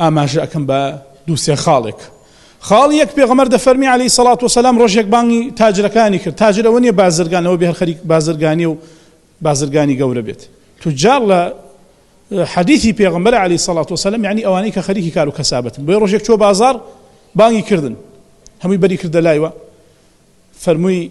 ئاماژە ئەکەم بە دوو سێ خاڵێک خاڵی یەک پێغەمەر دەفەرمی علی سەڵات و سەسلام ڕۆژێک بانگی تاجرەکانی کرد تاجر ئەوە نیە بازرگان ئەوە بێ هەر خەریک بازرگانی و بازرگانی گەورە بێت توجار لە حەدیثی پێغمبەر علی سەڵات و سەلم ینی ئەوانەی کە خەریکی کار و کەسابەتن بۆی ڕۆژێک چۆ بازار بانگی کردن هەمووی بەری کردە لایوە فەرمووی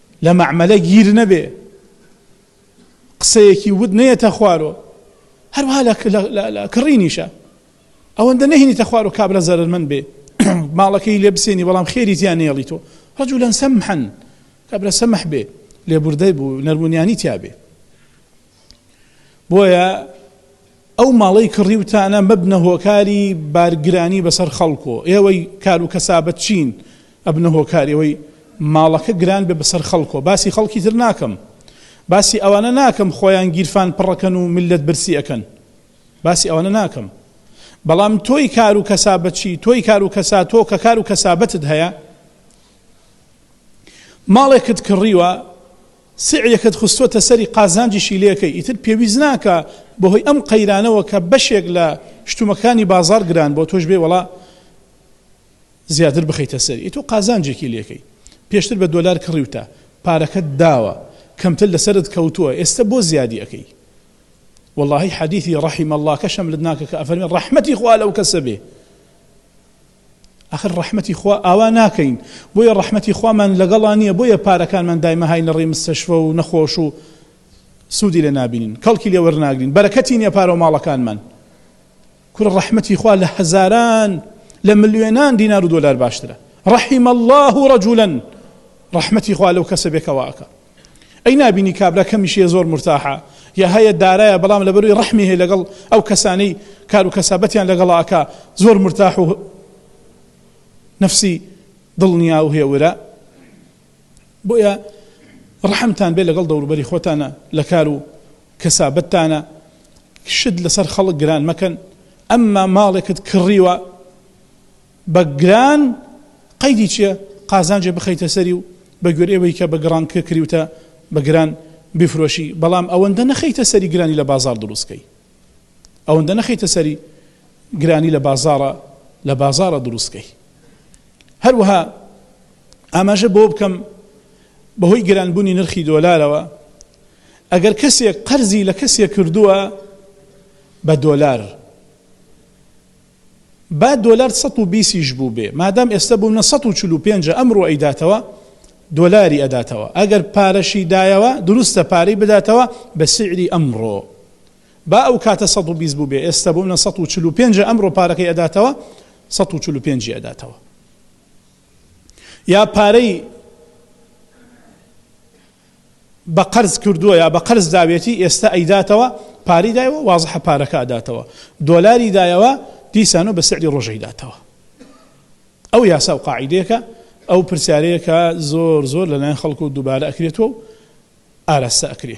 لە مەعمەلە گیر نەبێ قسەیەکی وت نەیەتە خوارۆ هەروها لە کڕینیشە ئەوەندە نەهێنیتە خوار و کابرا زەرمەند بێ ماڵەکەی لێ بسێنی بەڵام خێری تیان نێڵی تۆ ڕجولەن سەمحەن کابرا سەمح بێ لێبوردەی بوو نەرمونیانی تیاابێ بۆیە ئەو ماڵەی کڕیوتانە مەبنە هۆکاری بارگرانی بەسەر خەڵک و ئێوەی کار و کەسابەت چین ئەبنە هۆکاری ئەوەی ماڵەکە گران بێ بەسەر خەڵکۆ باسی خەڵکی تر ناکەم باسی ئەوانە ناکەم خۆیان گیرفان پڕەکەن و ملت برسی ئەەکەن باسی ئەوانە ناکەم بەڵام تۆی کار و کەسابەتچی تۆی کار و کەسا تۆ کە کار و کەسابەتت هەیە ماڵێکت کڕیوە سعرەکەت خستۆتە سەری قازانجیشی لێکەی ئیتر پێویست ناکا بەهۆی ئەم قەیرانەوە کە بەشێک لە شتومەکانی بازاڕ گران بۆ تۆش بێ وەڵا زیاتر بخەیتە سەری ئەی تۆ قازانجێکی لێکەی پێشتر بە دۆلار کڕیوتە پارەکەت داوە کەمتر لەسەرت کەوتووە ئێستا بۆ زیادی ئەەکەی واللهی حەدیثی ڕحیم اللهکەشم لە ناکە کە ئەفەرمی ڕحمەتی خوا لەو کەسە بێ ئاخر ڕەحمەتی خوا ئاوا ناکەین بۆیە ڕەحمەتی خوامان لەگەڵا نیە بۆیە پارەکانمان دایمەهای لەڕێی مستەشفە و نەخۆش و سودی لێ نابینین کەڵکی لێ وەرناگرین بەرەکەتی نیە پارە و ماڵەکانمان کورە ڕەحمەتی خوا لە هەزاران لە ملیۆنان دینار و دۆلار باشترە ڕەحیم الله رجلا ڕەحمەتی خوا لەو کەسە بێکەوە ئەکا ئەی نابینی کابرا کەمیشیە زۆر مورتاحە یا هەیە دارایە بەڵام لەبەروی ڕەحمی هەیە لەگەڵ ئەو کەسانەی کارو کەسابەتیان لەگەڵا ئەکا زۆر مورتاح و نەفسی دڵنیا و هێورە بۆیە ڕەحمتان بێ لەگەڵ دەوروبەری خۆتانە لە کار و کەسابەتتانە شت لەسەر خەڵک گران مەکەن ئەمما ماڵێکت کڕیوە بە گران قەیدی چیە قازانجێ بخەیتە سەری و بە گوێرەی ئەوەی کە بە گڕان کە کریوتە بە گران بیفرۆشی بەڵام ئەوەندە نەخەیتە سەری گرانی لە بازاڕ دروست کەی ئەوەندە نەخەیتە سەری گرانی لە بازاڕە لە بازاڕە دروست کەی هەروەها ئاماژە بۆ بکەم بەهۆی گرانبوونی نرخی دۆلارەوە ئەگەر کەسێک قەرزی لە کەسێک کردووە بە دۆلار با دۆلار سەد و بیست یش بوبێ مادام ئێستە بونە سەد و چل و پێنج ئەمرۆ ئەیداتەوە دۆلاری ئەداتەوە ئەگەر پارەشی دایەوە دروستە پارەی بداتەوە بە سیعری ئەمرۆ با ئەو کاتە سەد و بیست بوبێ ئێستە بونە سەد و چل و پێنج ئەمرۆ پارەکەی ئەداتەوە سەد و چل و پێنج ی ئەداتەوە یا پارەی بە قەرز کردووە یا بە قەرز داوێتی ئێستا ئەیداتەوە پارەی دایەوە وازحە پارەکە ئەداتەوە دۆلاری دایەوە دیسانەوە بە سعری ڕۆژ ئەیداتەوە ئەو یاسا و قاعیدەیەکە ئەو پرسیارەیەکە زۆر زۆر لەلایەن خەڵکو دووبارە ئەکرێتەوە و ئاراستە ئەکرێ